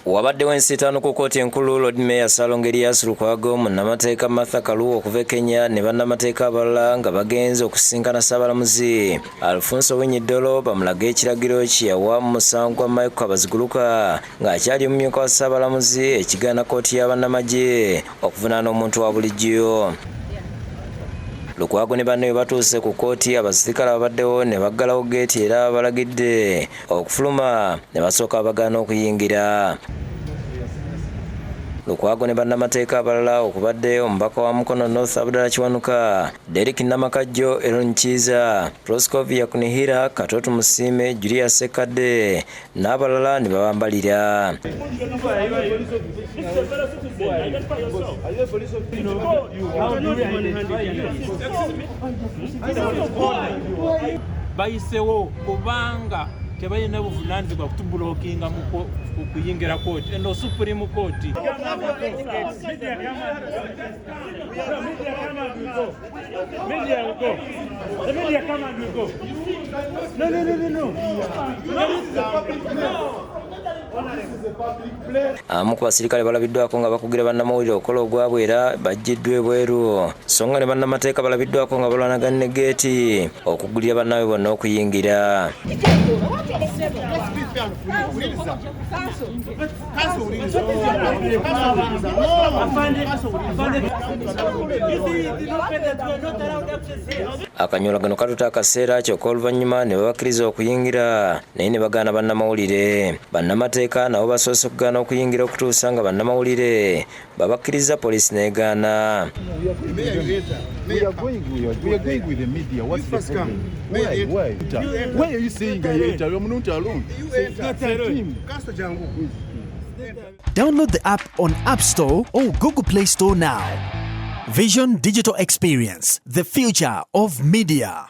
Wabaddewo ensiitaano ku kkooti enkulu Lord Mayor Salongo Erias Lukwago, munnamateeka Martha Kaluwa okuva e Kenya ne bannamateeka abalala nga bagenze okusisinkana Ssaabalamuzi Alfonso Owiny Dollo bamulage ekiragiro kye yawa mu musango gwa Michael Kabaziguluka ng'akyali omumyuka wa Ssaabalamuzi ekigaana kkooti ya bannamagye okuvunaana omuntu wa bulijjo. Lukwago ne banne bwe batuuse ku kkooti abasirikale ababaddewo ne baggalawo geeti era balagidde okufuluma ne basooka abagaana okuyingira Lukwago ne bannamateeka abalala okubadde omubaka wa Mukono North Abdala Kiwanuka, Derek Namakajjo, Elon Kiiza, Proscovia Kunihira, Katoto Musiime, Julia Sekadde n'abalala ne babambalira. bayisewo kubanga tebalina buvunanyizibwa kutubulokinga okuyingira kooti eno supreme kooti abamu ku basirikale balabiddwako nga bakugira bannamawulire okukola ogwabwe era bajjiddwa ebweru so nga ne bannamateeka balabiddwako nga balwanagana ne geeti okugulira bannaabwe bonna okuyingira akanyola gano katuta akaseera kyokka oluvannyuma ne babakkiriza okuyingira naye ne bagaana bannamawulire bannamateeka nabo basoose okugaana okuyingira okutuusa nga bannamawulire babakkirizza poliisi n'egaana Download the app on App Store or Google Play Store now. Vision Digital Experience, the future of media.